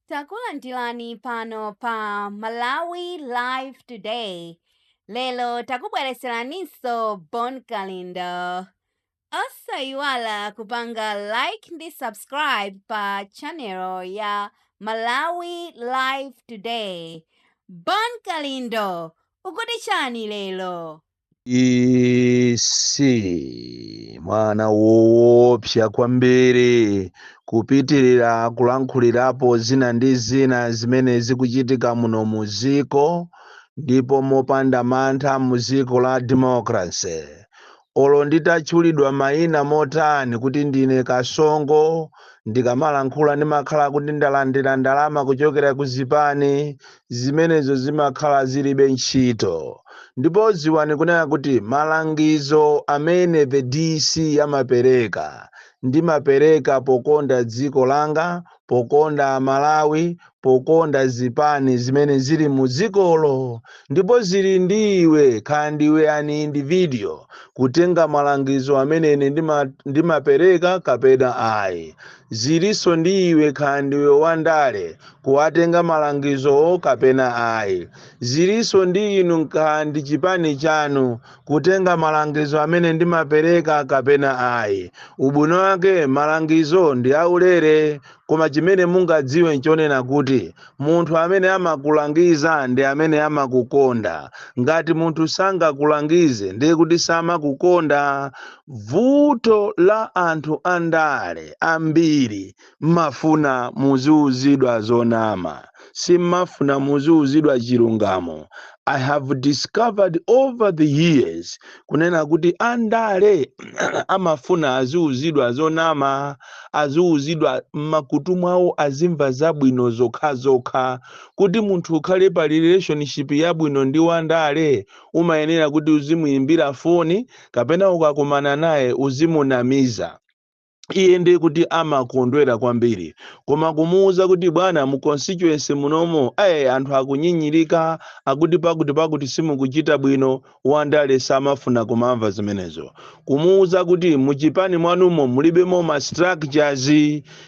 Takulandirani pano pa Malawi Live Today. Lero takubweretseraninso Bon Kalindo. Osayiwala kupanga like ndi subscribe pa channel ya Malawi Live Today. Bon Kalindo, ukuti chani lero? It's mwana woopsa kwambiri kupitirira kulankhulirapo zina ndi zina zimene zikuchitika muno mu dziko ndipo mopanda mantha mu dziko la democracy olo nditatchulidwa mayina motani kuti ndine kasongo ndikamalankhula ndimakhala kuti ndalandira ndalama kuchokera ku zipani zimenezo zimakhala zilibe ntchito ndipo ziwani kunena kuti malangizo amene the dc amapereka ndimapereka pokonda dziko langa pokonda Malawi pokonda zipani zimene zili mu dzikolo ndipo zili ndi iwe kaya ndiwe an individual kutenga malangizo amene ine ndimapereka kapena ayi Zilinso ndi iwe kaya ndiwe wa ndale, kuwatenga malangizowo kapena ayi. Zilinso ndi inu kaya ndi chipani chanu, kutenga malangizo amene ndimapereka kapena ayi. Ubwino wake malangizo ndi aulere, koma chimene mungadziwe n'chonena kuti munthu amene amakulangiza ndi amene amakukonda. Ngati munthu sangakulangize ndiye kuti samakukonda. Vuto la anthu andale ambiri mmafuna muziuzidwa zonama simmafuna muziuzidwa chilungamo. I have discovered over the years kunena kuti andale amafuna aziuzidwa zonama aziuzidwa mmakutu mwawo azimva zabwino zokhazokha kuti munthu ukhale pa relationship yabwino ndi wandale umayenera kuti uzimuimbira foni kapena ukakumana naye uzimunamiza iye ndiye kuti amakondwera kwambiri koma kumuwuza kuti bwana mu constituency mwanumo ayi anthu akunyinyirika akuti pakuti pakuti simukuchita bwino wandale samafuna kumamva zimenezo kumuwuza kuti muchipani mwanumo mulibemo ma structures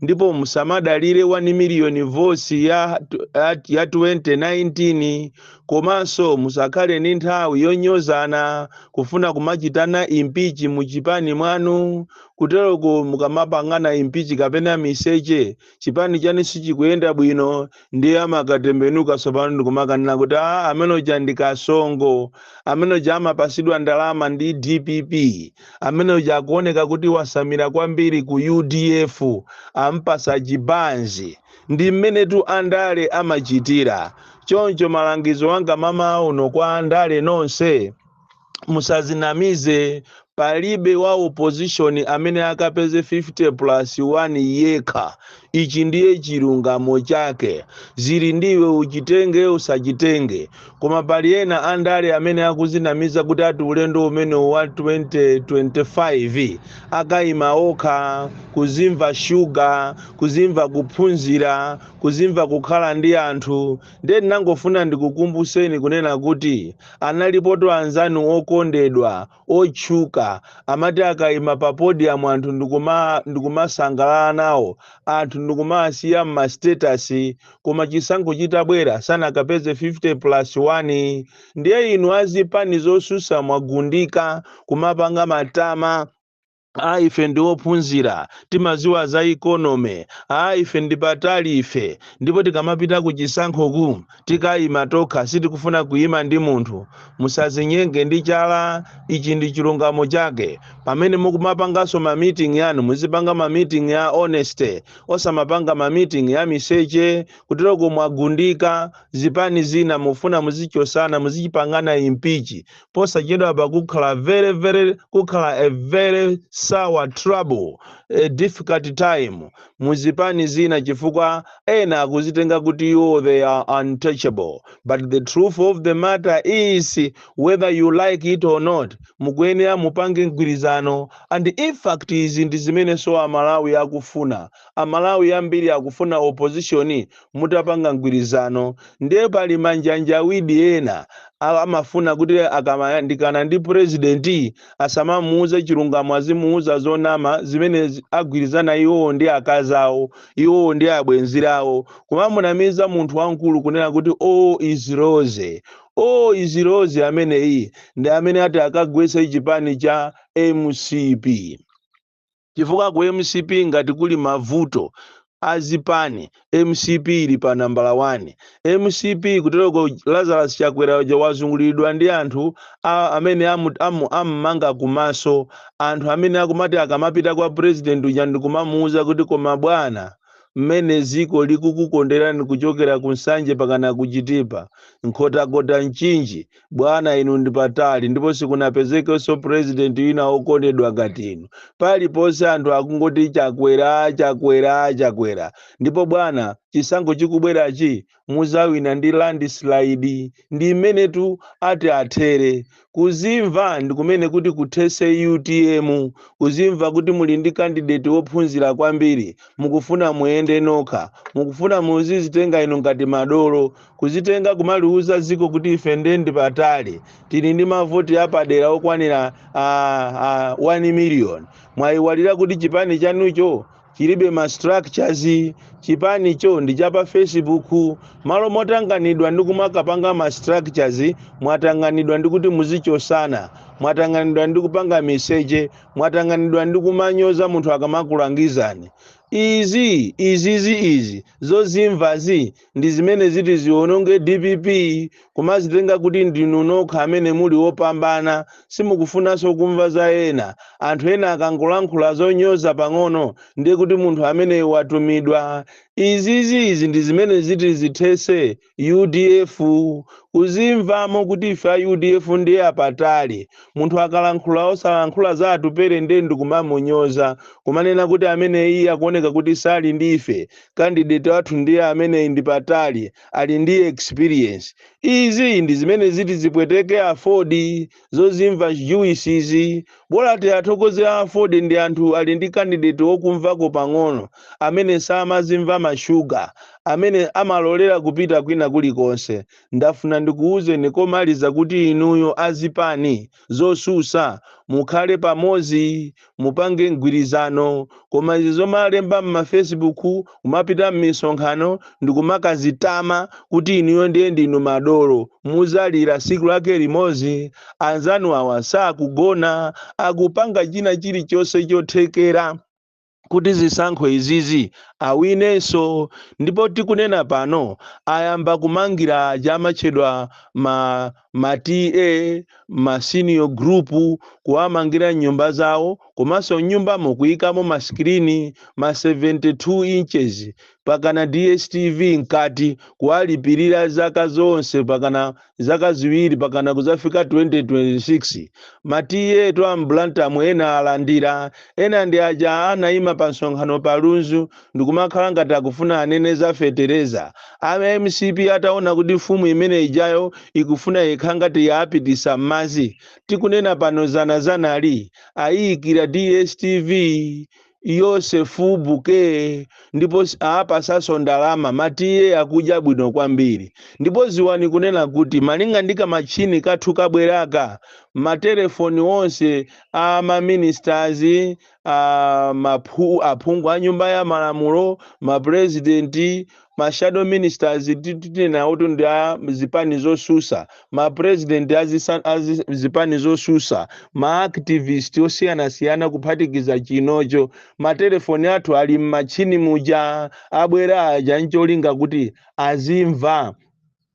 ndipo musamadalire 1 million votes ya, ya, ya 2019 Komanso musakhale ndi nthawi yonyozana, kufuna kumachitana impeach mu chipani mwanu. Kuteroko mukamapangana impeach kapena miseche, chipani chanu sichikuyenda bwino ndiye amakatembenuka tsopano ndikumakanena kuti aah amene uja ndi Kasongo, amene uja amapasidwa ndalama ndi dpp, amene uja akuoneka kuti wasamira kwambiri ku udf, amupasa chibanzi. Ndi mmenetu andale amachitira. Choncho malangizo anga mamawa uno kwa andale nonse, musazinamize. Palibe wa opposition amene akapeze 50 plus 1 yekha. Ichi ndiye chilungamo chake. Zili ndi iwe uchitenge usachitenge. Koma pali ena andale amene akuzinamiza kuti ati ulendo umene wa 2025 akaima okha, kuzimva shuga, kuzimva kuphunzira, kuzimva kukhala ndi anthu. Ndiye ndinangofuna ndikukumbuseni kunena kuti analipotu anzanu okondedwa otchuka amati akaima pa podium anthu ndikumasangalala nawo anthu ndikumawasiya mma status koma chisankho chitabwera sanakapeze 50 plus 1 ndiye inu azipani zosusa mwagundika kumapanga matama a ife ndi ophunzira timaziwa za economy a ife ndi patali ife ndipo tikamapita ku chisankhoku tikayima tokha sitikufuna kuyima ndi munthu musazinyenge ndi chala ichi ndi chilungamo chake pamene mukumapanganso ma meeting yanu muzipanga ma meeting ya honesty osamapanga ma meeting ya miseche kuteroko mwagundika zipani zina mufuna muzichosana muzichipangana impeach posachedwapa kukhala very very kukhala a very sour trouble a difficult time mu zipani zina chifukwa ena akuzitenga kuti iwo they are untouchable but the truth of the matter is whether you like it or not mukuyenera mupange mgwirizano and in fact izi ndi zimenenso amalawi akufuna amalawi ambiri akufuna opposition mutapanga mgwirizano ndiye pali manjanjawidi ena amafuna kuti akamayandikana ndi president asamamuuze chilungamo azimuuza zonama zimene agwirizana iwowo ndi akazi awo iwowo ndi abwenzi awo kumamunamiza munthu wamkulu kunena kuti all is rosy all is rosy ameneyi ndi amene ati akagwetse chipani cha mcp chifukwa ku mcp ngati kuli mavuto azipani mcp ili pa nambala 1 mcp kutereko lazarus chakwera uja wazunguliridwa ndi anthu amene amumanga kumaso anthu amene akumati akamapita kwa president uja ndikumamuuza kuti koma bwana mmene dziko likukukonderani kuchokera ku nsanje pakana kuchitipa nkhotakota mchinji bwana inu ndi patali ndipo sikunapezekenso president wina wokondedwa ngati inu paliponse anthu akungoti chakwera chakwera chakwera ndipo bwana chisankho chikubwerachi muzawina ndi landslide ndi mmenetu ati athere kuzimva ndi kumene kuti kuthese utm kuzimva kuti muli ndi kandideti wophunzira kwambiri mukufuna muyende nokha mukufuna muzizitenga inu ngati madolo Kuzitenga kumaliuza ziko kuti ife nde ndi patali tili ndi mavoti apadera okwanira a, a 1 million mwayiwalira kuti chipani chanucho chilibe ma structures chipanicho ndi cha pa facebook malo motanganidwa ndi kumakapanga ma structures mwatanganidwa ndi kuti muzichosana mwatanganidwa ndi kupanga miseche mwatanganidwa ndi kumanyoza munthu akamakulangizani izi izizi izi zozimvazi ndi zimene ziti ziononge dpp kumazitenga kuti ndinu nokha amene muli wopambana simukufunanso kumva za ena anthu ena akangolankhula zonyoza pang'ono ndiye kuti munthu ameneyo watumidwa izizi izi ndi zimene ziti zithese udf kuzimvamo kuti ife a udf ndiye apatali munthu akalankhula osalankhula za atupere ndiye ndikumamunyoza kumanena kuti amene iye akuoneka kuti sali ndi ife candidate wathu ndiye amene ndi patali ali ndi experience izi ndi zimene ziti zipweteke afodi zozimva juicezi bola tiathokoze a afodi ndi anthu ali ndi candidate wokumvako pang'ono amene samazimva mashuga amene amalolera kupita kwina kulikonse ndafuna ndikuwuzeni komaliza kuti inuyo azipani zosusa mukhale pamozi mupange mgwirizano koma izi zomalemba mma facebook kumapita mmisonkhano ndikumakazitama kuti inuyo ndiye ndinu madolo muzalira siku lake limozi anzanu awa sakugona akupanga china chilichonse chothekera kuti zisankho izizi awinenso ndipo tikunena pano ayamba kumangira aja amatchedwa ma, ma TA ma senior group kuwamangira nyumba zawo komanso nyumbamo kuyikamo masikirini ma 72 inches pakana DSTV mkati, kuwalipirira zaka zonse pakana zaka ziwiri pakana kuzafika 2026. Ma TA etu a m'Blantyre mu ena alandira, ena ndi aja anaima pa msonkhano pa Lunzu ndikumakhala ngati akufuna anene za fetereza. A mcp ataona kuti mfumu imene ijayo ikufuna yekha ngati yaapitisa m'madzi, tikunena pano zana zanali, ayiikira DSTV. yosefu buke ndipo apasanso ndalama matiye akudya bwino kwambiri ndipo ziwani kunena kuti malinga ndi kamatchini kathu kabwera aka matelefoni onse a maministers a maphu- aphungu a nyumba ya malamulo mapurezidenti ma shadow ministers titinena oti ndi a zipani zosusa ma president a zisa- a zi- zipani zosusa ma activist osiyanasiyana kuphatikiza chinocho matelefoni athu ali m'matchini muja abwera aja ncholinga kuti azimva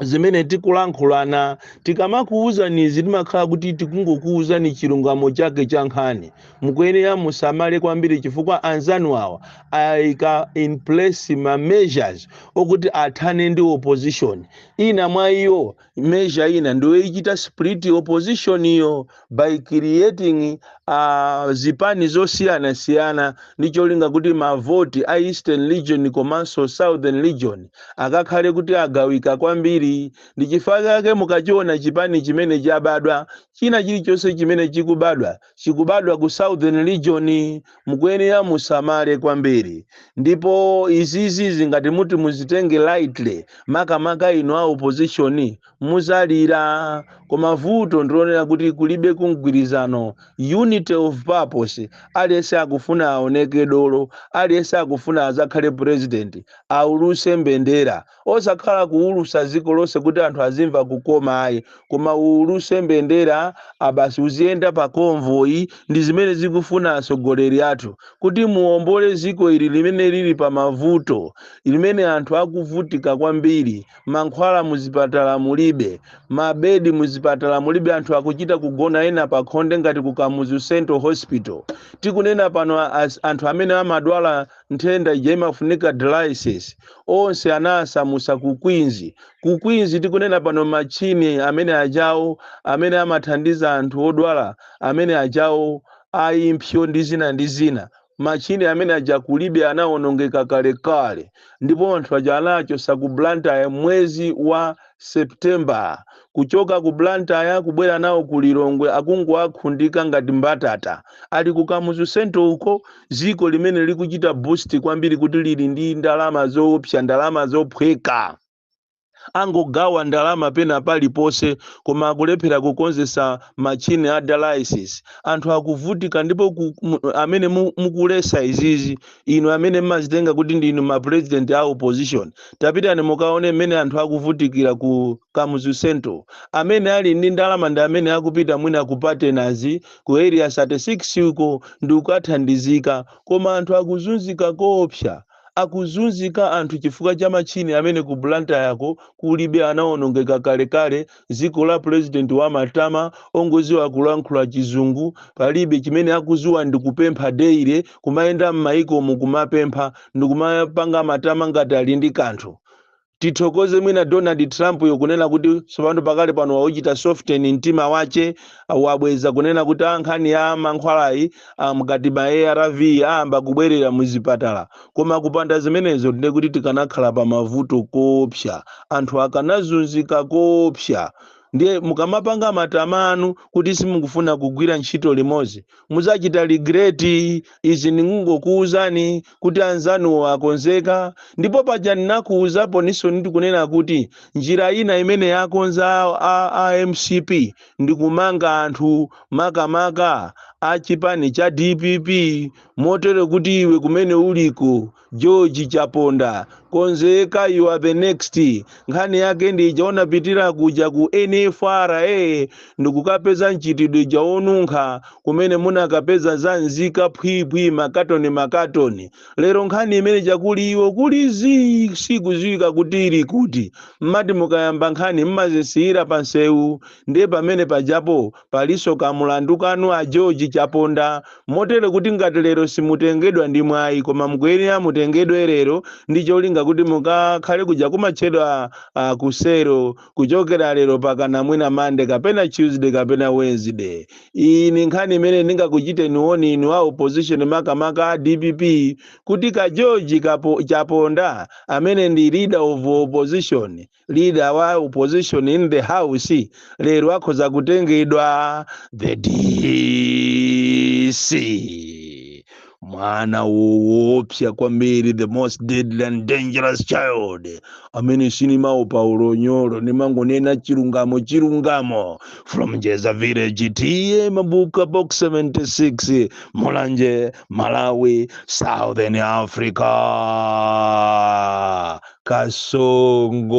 zimene tikulankhulana tikamakuwuzani izi timakhala kuti tikungokuwuzani chilungamo chake cha nkhani mukuyenera musamale kwambiri chifukwa anzanu awa ayika in place ma measures okuti athane ndi opposition ina mwa iyo measure ina ndiyoichita split opposition iyo by creating uh, zipani zosiyanasiyana ndi cholinga kuti mavoti a eastern region komanso southern region akakhale kuti agawika kwambiri ndi chifukwa chake mukachiona chipani chimene chabadwa china chilichonse chimene chikubadwa chikubadwa ku southern region mukuyenera musamale kwambiri ndipo izizi sikuti muti muzitenge lightly makamaka inu a opposition muzalira koma vuto ndilonena kuti kulibe mgwirizano unity of purpose aliyense akufuna aoneke dolo aliyense akufuna azakhale president auluse mbendera osakhala kuulusa dziko lonse kuti anthu azimva kukoma ayi koma uuluse mbendera abasi uziyenda pa convoy ndi zimene akufuna atsogoleri athu kuti muombole dziko ili limene lili pa mavuto limene anthu akuvutika kwambiri mankhwala muzipatala mulibe, mabedi muzipatala mulibe, anthu akuchita kugona ena pakhonde ngati ku Kamuzu Central Hospital. Tikunena pano as, anthu amene amadwala nthenda ija imafunika dialysis onse anawasamusa ku Queens. Ku Queens tikunena pano machine amene ajawo amene amathandiza anthu odwala amene ajawo a impsyo ndi zina ndi zina machine amene aja kulibe anawonongeka kalekale ndipo anthu aja anawachosa ku blantyre mwezi wa september kuchoka ku blantyre kubwera nawo ku lilongwe akungowakhundika ngati mbatata ali ku kamuzu central uko ziko limene likuchita boast kwambiri kuti lili ndi ndalama zoopsa ndalama zophweka angogawa ndalama pena paliponse koma akulephera kukonzesa machine a dialysis anthu akuvutika ndipo amene mukulesa izizi inu amene mmazitenga kuti ndinu ma president a opposition tapitani mukaone mmene anthu akuvutikira ku kamuzu central amene ali ndi ndalama ndi amene akupita mwina ku patenazi ku area 36 uko ndi kukathandizika koma anthu akuzunzika koopsa Akuzunzika anthu chifukwa cha machini amene ku Blantyre ko kulibe anawonongeka kalekale dziko la president wa matama ongoziwa kulankhula chizungu palibe chimene akuziwa ndikupempha daily kumayenda mmayikomu kumapempha ndikumapanga matama ngati ali ndi kanthu Tithokoze mwina Donald Trump yo kunena kuti tsopano pakali pano wauchita soften mtima wache uh, wabweza kunena kuti aa nkhani ya mankhwalayi ah, mkati ma ARV ayamba kubwerera muzipatala koma kupanda zimenezo ndiye kuti tikanakhala pa mavuto koopsa anthu akanazunzika koopsa ndiye mukamapanga matama anu kuti simukufuna kugwira ntchito limodzi mudzachita regret izi ndingokuwuzani kuti anzanuwo akonzeka ndipo paja ndinakuwuzapo ninso ndikunena kuti njira ina imene yakonza a, a, a mcp ndikumanga anthu makamaka a chipani cha dpp motere kuti iwe kumene uliko George Chaponda, konzeka you are the next. Nkhani yake ndi ija unapitira kuja ku NFRA ndikukapeza mchitidwe uja wonunkha kumene munakapeza za nzika phwiphwi makatoni makatoni. Lero nkhani imene ija kuli iwo kuli zii sikuziwika kuti ili kuti. Mmati mukayamba nkhani mmazisiyira pansewu ndiye pamene pajapo Palinso ka mulandu kanu a George Chaponda, motere kuti ngati lero simutengedwa ndi mwai koma mukuyenera mutengedwe lero ndi cholinga kuti mukakhale kuja kumatchedwa ku selo kuchokera lero pakana mwina Monday kapena Tuesday kapena Wednesday. Iyi ndi nkhani imene ndingakuchiteni woni inu a opposition makamaka a DPP kuti ka George Chaponda amene ndi leader of opposition leader wa opposition in the house lero akhoza kutengedwa the dc mwana woopsa kwambiri the most deadly and dangerous child amene sindimaopa unyolo ndimangonena chilungamo chilungamo from Jeza Village TA Mabuka Box 76 Mulanje Malawi Southern Africa Kasongo